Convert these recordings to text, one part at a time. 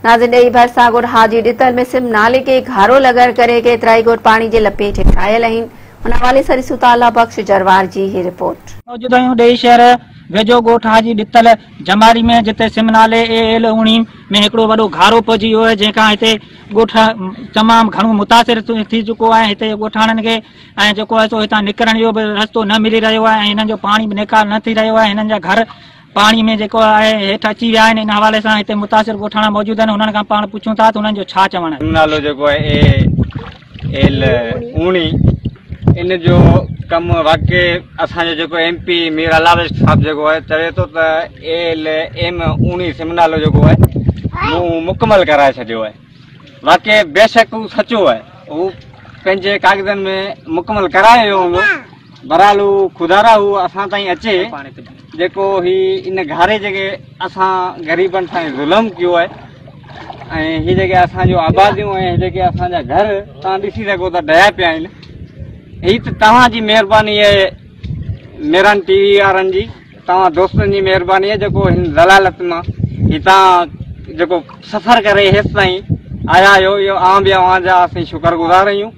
نازي ڏيئي ڀرسان ڳوٺ حاجي ڏتل ۾ سم نالي ڪي گهارو لڳڻ ڪري ڪيترائي ڳوٺ پاڻي جي لپيٽ هيٺ آيل اهين ان حوالي سان ڏسون ٿا الله بخش جروار جي هي رپورٽ. موجود آهيون ڏيئي شهر ويجهو ڳوٺ حاجي ڏتل جماري ۾ جتي سم نالي اي ايل اوڻي ۾ هڪڙو وڏو گهارو پئجي ويو آهي جنهن کان هتي ڳوٺ تمام گهڻو متاثر ٿي چڪو آهي هتي جي ڳوٺاڻن کي ۽ جيڪو آهي سو هتان نڪرڻ جو به رستو نه ملي رهيو آهي ۽ هنن جو پاڻي به نيڪال نه ٿي رهيو آهي هنن جا گهر پاڻي ۾ جيڪو آهي هيٺ اچي ويا آهن ان حوالي سان هتي متاثر ڳوٺاڻا موجود آهن انهن کان پاڻ پڇون ٿا ته انهن جو ڇا چوڻ آهي. نالو جيڪو آهي اي ايل اوڻي ان جو ڪم واقعي اسان جو جيڪو ايم پي مير علارش صاحب جيڪو آهي چوي ٿو ته اي ايل ايم اوڻي سم نالو جيڪو آهي مون مڪمل ڪرائي ڇڏيو آهي واقعي بيشڪ هو سچو آهي هو پنهنجي ڪاغذن ۾ مڪمل ڪرائي ويو هوندو بھرحال ھو خدارا ھو اسان تائين اچي جيڪو ھي ان گھاري جيڪي اسان غريبن سان ظلم ڪيو آھي ۽ ھي جيڪي اسان جو آباديون ۽ جيڪي اسان جا گھر تان ڏسي سگھو ته ڊھيا پيا آھن ھي ته توھان جي مھرباني آھي ميران ٽي وي وارن جي توھان دوستن جي مھرباني آھي جيڪو ھن ذلالت مان ھتان جيڪو سفر ڪري ھيس تائين آيا آھيو اھو اوھان به اوھان جا اسين شڪر گذار آھيون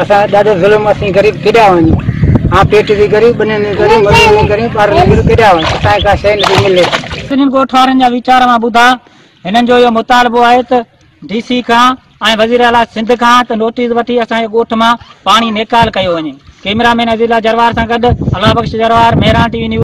اسان تي ڏاڍو ظلم اسين غريب ڪيڏا وڃون ها پيٽ جي غريب ٻنين جي غريب مزورين جي غريب ٻارن جي غريب ڪيڏا وڃون اسان کي ڪا شيء نه ٿي ملي. سنڌين ڳوٺ وارن جا ويچار مان ٻڌا هنن جو اهو مطالبو آهي ته ڊي سي کان ۽ وزير اعليٰ سنڌ کان ته نوٽيس وٺي اسان جي ڳوٺ مان پاڻي نيڪال ڪيو وڃي ڪيمرا مين عزيز الله جروار سان گڏ Allah Bukhsh Jarwar Mehran T V news